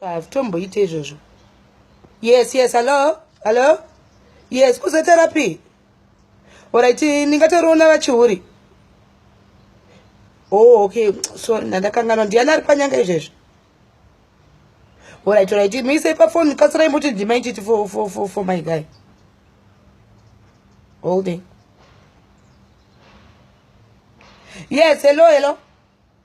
hazvitomboite ah, izvozvo yes yes hallo hallo yes kuzoterapi orit ndingatoriona vachiuri o oh, okay sorry ndandakanganwa ndiyani ari panyanga izvezvo orit orit muisei pafoni kasirai muti ndimaititi for, for, for, for my guy holding yes hello hello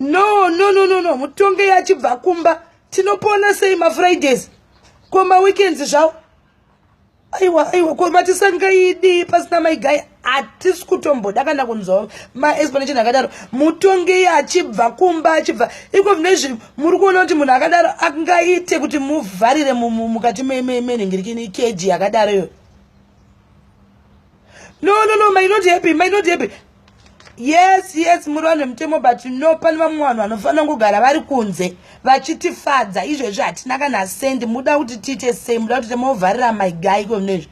no no no no no mutonge yachibva kumba tinopona sei mafridays ko maweekends zvawo aiwa aiwa ko matisangaidi pasina maigaya hatisi kutomboda kana kunzwa maexplanation akadaro mutonge yachibva kumba achibva iko zvine izvi muri kuona kuti munhu akadaro angaite kuti muvharire mukati menhingirikini keji yakadaro iyoyo no no no my not happy my not happy yes yes muri vanhu vemutemo but no pane vamwe vanhu vanofanira kugara vari kunze vachitifadza izvezvi hatina kana sendi muda kuti tiite sei muda kuti temovharira maigai konezvi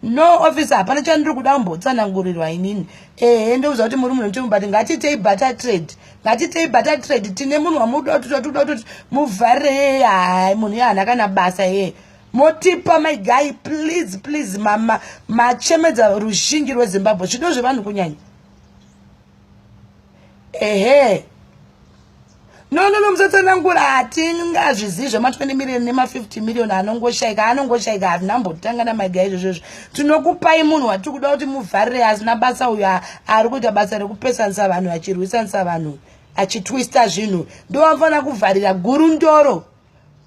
no office hapana chandiri kuda kumbotsanangurirwa inini ehe ndokuziva kuti muri munhu mutemo but ngatiitei butter trade ngatiitei butter trade tine munhu wamuda kuti totikuda kuti muvharire yeye hai munhu ye hana kana basa yeye motipa mai gai please please mama machemedza ruzhinji rwezimbabwe zvido zvevanhu kunyanya ehe nonono musatsanangura hatingazvizivi zvema20 million nema50 million anongoshaika anongoshaika hatinambotanga namai gai izvozvo izvo tinokupai munhu watiri kuda kuti muvharire asina basa uyo ari kuita basa rekupesanisa vanhu achirwisanisa vanhu achitwista zvinhu ndovanofanira kuvharira gurundoro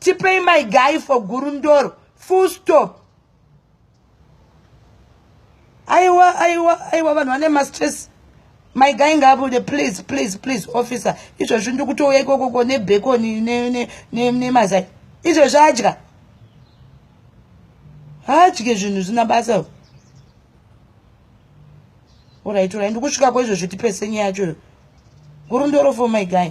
tipei my guy for gurundoro full stop aiwa aiwa aiwa vanhu vane mastress my guy ngaabude please please please officer izvozvi ndikutouya ikokoko nebhekoni nemazai izvozvi adya haadye zvinhu zvina basa Alright, alright. Ndikusvika kwezvo zvitipese nyaya yacho. Gurundoro for my guy.